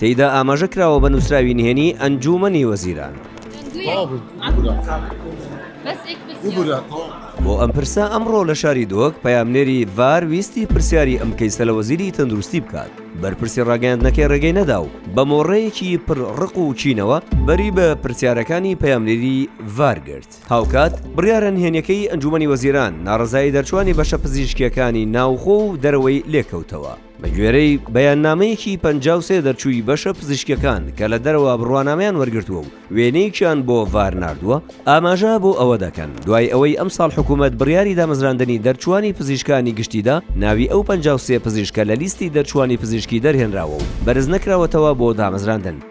تێیدا ئاماژە کراوە بە نووسراوی نهێنی ئەنجوومەنی وەزیران. بۆ ئەم پرسە ئەمڕۆ لە شاری دۆک پەیامنێری ڤار ویستی پرسیاری ئەم کەیسە لە وەزیری تەندروستی بکات بەرپرسی ڕاگەیاندنەکەی ڕێگەی نەدا و بە مۆڕەیەکی پر ڕق و چینەوە بەری بە پرسیارەکانی پەیامنێری ڤار گرت هاوکات بڕیارە نهێنیەکەی ئەنجومی وەزیران ناڕزایی دەرچوانی بەشە پزیشکیەکانی ناوخۆ و دەرەوەی لێکەوتەوە. بەگوێرەی بەیاننامەیەکی پەنجا و سێ دەرچووی بەشە پزیشکیەکان کە لە دەرەوە بڕوانامەیان وەرگرتووە و وێنەیەکیان بۆ ڤار ناردووە، ئاماژە بۆ ئەوە دەکەن، دوای ئەوەی ئەمساڵ حکوومەت بڕیاری دامەزراندنی دەرچووانی پزیشکانی گشتی دا، ناوی ئەو پەنجا و سێ پزیشکە لە لیستی دەرچووانی پزیشکی دەرهێنراوە و بەرزنەکراوەتەوە بۆ دامەزراندن.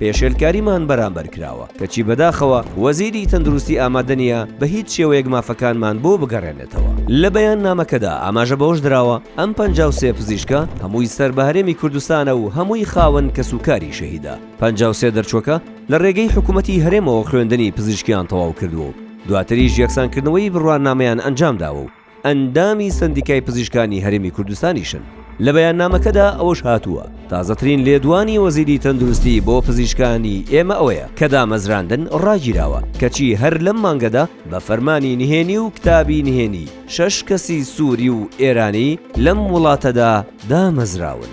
پێشێلکاریمان بەرامبەر کراوە، کەچی بەداخەوە وەزیری تەندروستی ئامادە نییە بە هیچ شێوەیەک مافەکانمان بۆ بگەڕێنێتەوە. لە بەیاننامەکەدا ئاماژە بەوەش دراوە، ئەم پەنجا و سێ پزیشکە هەمووی سەر بە هەرێمی کوردستانە و هەمووی خاوەن کەسوکاری شەهیدە پەنجا و سێ دەرچووەکە لە رێگەی حکوومەتی هەرێمەوە خوێندنی پزیشکیان تەواو کردووە و دواتریش یەکسانکردنەوەی بڕوانامەیان ئەنجامداوە و ئەندامی سەندیکای پزیشکانی هەرێمی کوردستانیشن. لە بەیاننامەکەدا ئەوەش هاتووە، تازەترین لێدوانی وەزیری تەندروستی بۆ پزیشکانی ئێمە ئەوەیە کە دامەزراندن ڕاگیراوە، کەچی هەر لەم مانگەدا بە فەرمانی نهێنی و کتابی نهێنی شەش کەسی سوری و ئێرانی لەم وڵاتەدا دامەزراون.